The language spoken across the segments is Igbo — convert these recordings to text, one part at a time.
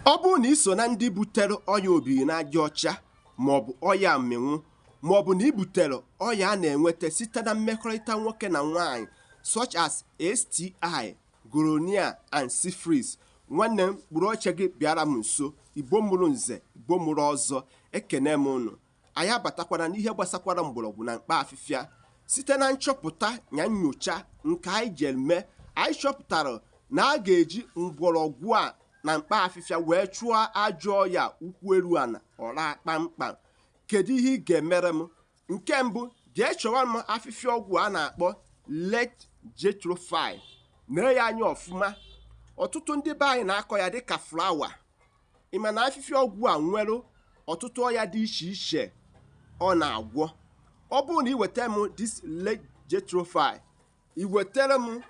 ọ bụrụ na ị so na ndị butere ọya obiri n'aja ọcha maọbụ ọya mmịnwụ maọbụ na ị butere ọya a na-enweta site na mmekọrịta nwoke na nwaanyị such as STI, gonorrhea and syphilis nwanne m kpụrụ oche gị bịara m nso igbo mụrụ nze igbo mụrụ ọzọ ekene m ụnụ anyị abatakwara n'ihe gbasakwara mgbọrọgwụ na mkpa afịfịa site na nchọpụta na nyocha nke anyị jere mee anyị chọpụtara na a ga-eji mgbọrọgwụ a na mkpa afịfịa wee chụọ ajọ ọya ụkwụ eru ana ọra kpamkpam kedu ihe ị ga-emere m nke mbụ jee chọwa m afịfịa ọgwụ a na-akpọ red jatropha nee ya anya ọfụma ọtụtụ ndị be anyị na-akọ ya dịka flower ị ma na afịfịa ọgwụ a nwere ọtụtụ ọya dị iche iche ọ na-agwọ ọ bụrụ na iweta m this red jatropha iwetara m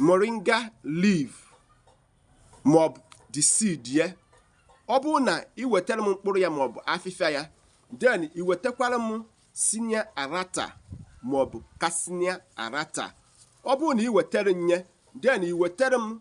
moringa leaf maọbụ the seed ya ọ bụrụ na iwetara m mkpụrụ ya maọbụ afịfịa ya then iwetakwara m senna alata maọbụ cassia alata ọ bụrụ na iwetara nye then iwetara m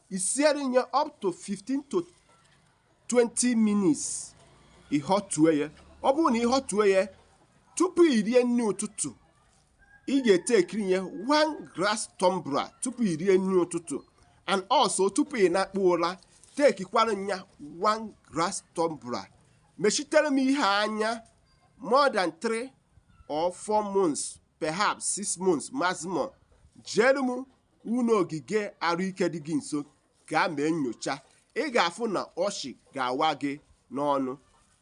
isiere nye up to 15 to 20 minutes ịhọtue ya ọ bụrụ na ịhọtue ya tupu i rie nri ụtụtụ ị ga-etekiri nye one glass tumbler tupu i rie nri ụtụtụ and also tupu ị nakpuo ụra tekikwara nya one glass tumbler mechitere m ihe anya more than 3 or 4 months perhaps 6 months maximum jere m ụlọ ogige arụike dị gị nso gaa mee nyocha ị ga-afụ na ọchị ga-awa gị n'ọnụ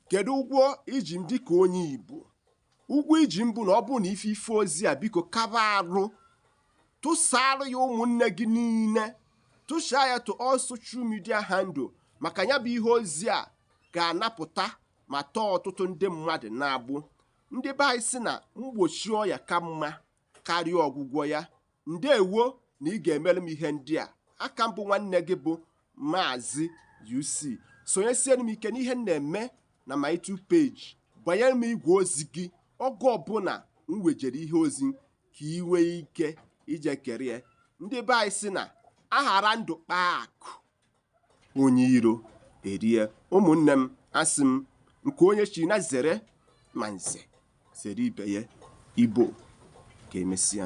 kedu ụgwọ iji m dịka onye Igbo ụgwọ iji m bụ na ọ bụrụ na ị fụ ife ozi a biko kaba arụ tụsaara ya ụmụnne gị niile tụsaa ya to all social media handle maka ya bụ ihe ozi a ga-anapụta ma tọọ ọtụtụ ndị mmadụ n'agbụ ndị be anyị sị na mgbochi ọya ka mma karịa ọgwụgwọ ya ndewo na ị ga-emere m ihe ndị a aka m bụ nwanne gị bụ maazị UC sonyesiere m ike n'ihe m na-eme na my YouTube page gbanyere m igwe ozi gị oge ọbụla m wejere ihe ozi ka ị nwee ike ije kirie ndị be anyị sị na a ghara ndụ kpaa akụ onye iro erie ụmụnne m asị m nke onye chi nya zere ma nze zere ibe ya igbo ka emesịa